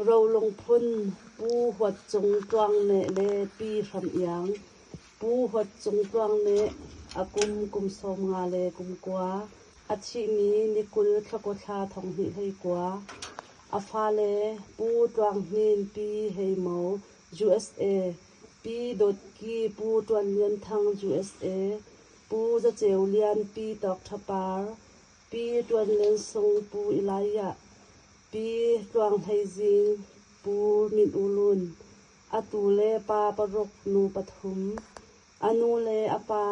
Rolung phun Pu Huat Cung Tluang nih le Pi Hram Iang, Pu Huat Cung Tluang nih a kum kum sawm nga le kum kua, a thihmi ni kul thlakawthla thonghnih hlei kua, a fale Pu Tluang Hnin Pi Hei Mo USA, Pi Dawt Ki Pu Ṭuan Lian Thang USA, Pu Za Ceu Lian Pi Tawk Ṭha Par, Pi Ṭuan Leng Sung Pu Ilaiyah, Pi Tluang Hlei Zing, Pu Min U Lun, a tu le pa paruk nu pathum, a nu le a pa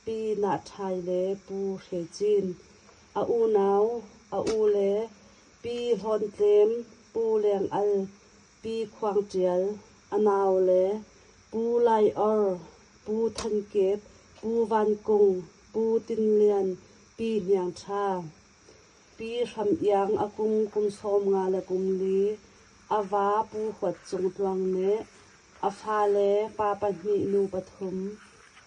Pi Na Ṭhai le Pu Hre Cin, a unau, a u le Pi Hlawn Tlem, Pu Leng Al, Pi Khuang Ṭial, a nau le Pu Lai Or, Pu Than Kep, Pu Van Kung, Pu Tin Lian, Pi Hniang Ṭha, Pi Hram Iang a kum kum sawm nga le kum li, a va Pu Huat Cung Tluang nih a fale pa pahnih nu pathum,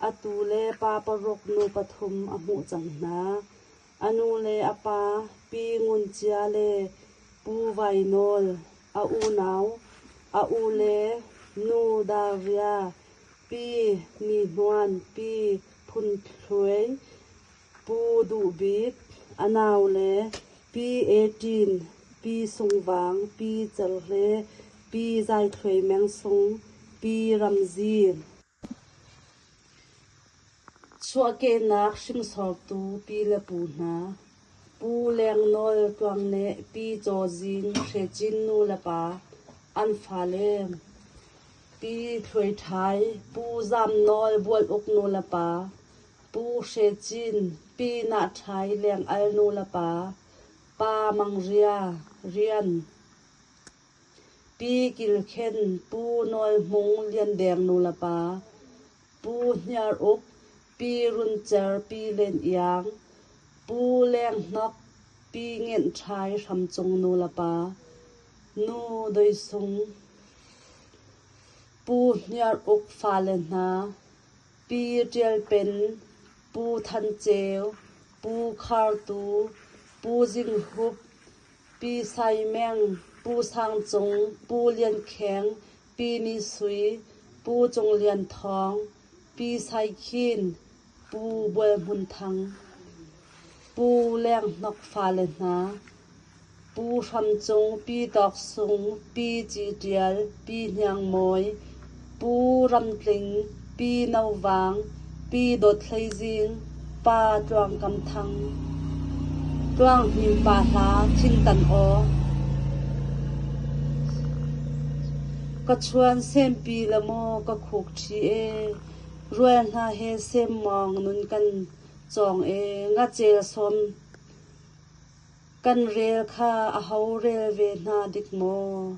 atu le pa paruk nu pathum a hmuh cang hna. A nu le a pa, Pi Ngun Cia le Pu Vai Nawl, a unau, a ule, nu Daria, Pi Ni Hnuan, Pi Phun Thluain, Pu Duh Bik, a nau le Pi E Ṭin, Pi Sung Vang, Pi Cer Hle, Pi Zai Thluai Meng Sung, Pi Ram Zin. Chuahkehnak hringsortu pi le pu hna, Pu Lengnawl Tluang le Pi Caw Zin Hre Cin nu le pa an fale, Pi Hluai Ṭhai, Pu Zam Nawl Bual Uk nu le pa, Pu Hre Cin, Pi Nah Ṭhai Leng Al nu le pa, Pa Mang Ria, rian. Pi kilkhen, Pu Nawl Hmung Liandeng nulepa, Pu Hniar Uk, Pi Run Cer Pi Len Iang, Pu Leng Hnok, Pi Ngenh Ṭhai Hram Cung nulepa, Nu Doi Sung, Pu Hniar Uk fale hna, Pi Ṭial Pen, Pu Than Ceu, Pu Khar Tu, Pu Zing Hup, Pi Sai Meng, Pu Sang Cung, Pu Lian Kheng, Pi Ni Sui, Pu Cung Lian Thawng, Pi Sai Khin, Pu Bual Hmun Thang, Pu Leng Hnok fale hna, Pu Hram Cung, Pi Tawk Sung, Pi Ci Ṭial, Pi Hniang Mawi, Pu Ram Tling, Pi No Vang, Pi Dawt Hlei Zing, Pa Tluang Kam Thang, Tluang Hnim Pa Hla Thingtan Aw, Ka chuan sempi la maw ka khuk ṭhi e, Rual hna he sem mawng nun kan cawng e, Ngacel sawm kan rel kha a ho rel ve hna dik maw?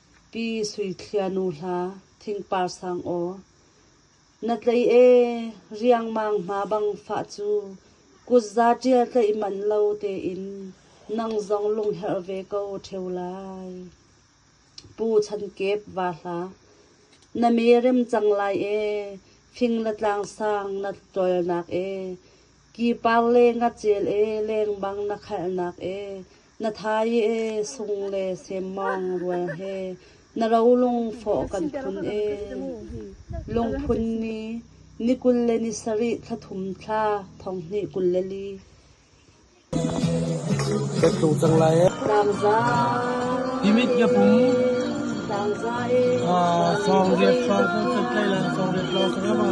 Pi Sui Thlia nu hla thingpar sang aw, na tlei ee riangmang hma bang fah cu kutza ṭial tlaih manh lo tein nang zong lungherh ve ko ṭheu lai. Pu Chan Kep va hla, na me rem cang lai ee fing le tlang sang na tualnak ee ki par le ngacel ee leng bang na khalhnak ee Na thai ee sung le semmawng rual he na rolung fawh kan phun ee. Lungphun ni, ni kul le ni sarih thla thum thla thong hnih kul le li. Kan tlung cang lai ee. Tlangza. Imit ka pum. Tlangza ee. Ah, song riat fa kan tlai lan song riat lo ka yama.